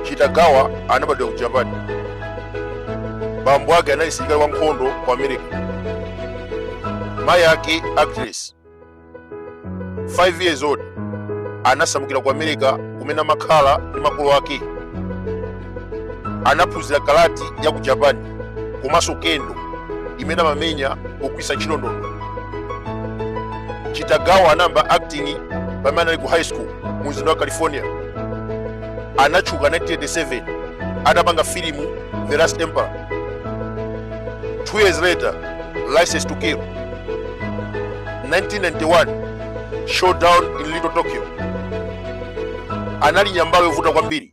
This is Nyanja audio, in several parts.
chitagawa anabadwa ku japan bambo ake anali msilikali wa nkhondo ku america mayi ake actress 5 years old anasamukira ku america kumene amakhala ndi makolo ake anaphunzira karate ya ku japan komanso kendo imene amamenya pogwiritsa ntchito ndodo chitagawa anayamba acting pamene anali ku high school mu mzinda wa california anatchuka 1987 atapanga filimu the last emperor two years later license to kill 1991 showdown in little tokyo anali nyambaro yovuta kwambiri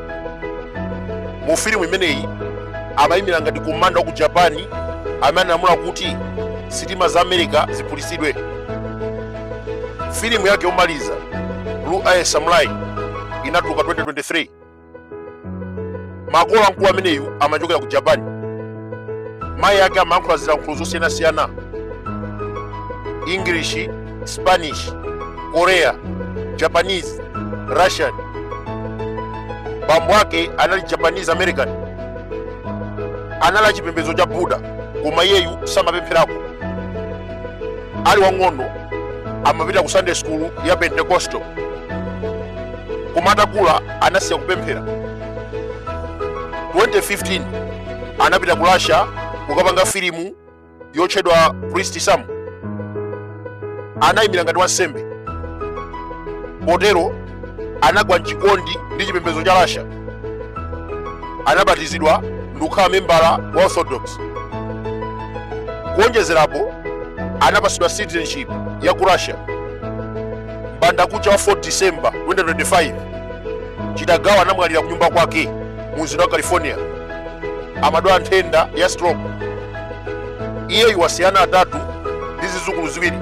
mu filimu imeneyi amayimira ngati komanda wa ku japani amene analamula kuti sitima za america ziphulitsidwe filimu yake yomaliza blue eye samurai inatuluka 2023 makolo amkulu ameneyu amachokera ku japani mayi ake amayankhula zilankhulo zosiyanasiyana english Spanish, Korea, Japanese, Russian. Bambo ake anali Japanese American, anali achipembedzo cha Buddha, koma iyeyu samapemphera uko. Ali wang'ono amapita ku Sunday school ya Pentecostal, koma atakula anasiya kupemphera. 2015 anapita ku Russia kukapanga filimu yotchedwa priest sam anayimira ngati wansembe potero anagwa mchikondi ndi chipembedzo cha russia anabatizidwa ndikukhala membala wa orthodox kuonjezerapo anapatsidwa citizenship ya ku russia mbandakucha wa 4 december 2025 chitagawa anamwalira kunyumba kwake mu mzinda wa california amadwala nthenda ya stroke iyeyu wasiya ana atatu ndi zizukulu ziwiri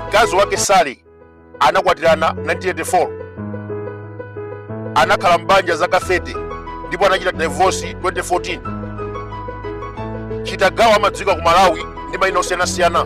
mkazi wake sali anakwatirana 1984 anakhala mbanja zaka 30 ndipo anachita divorce 2014 chitagawa amadziwika ku malawi ndi mayina osiyanasiyana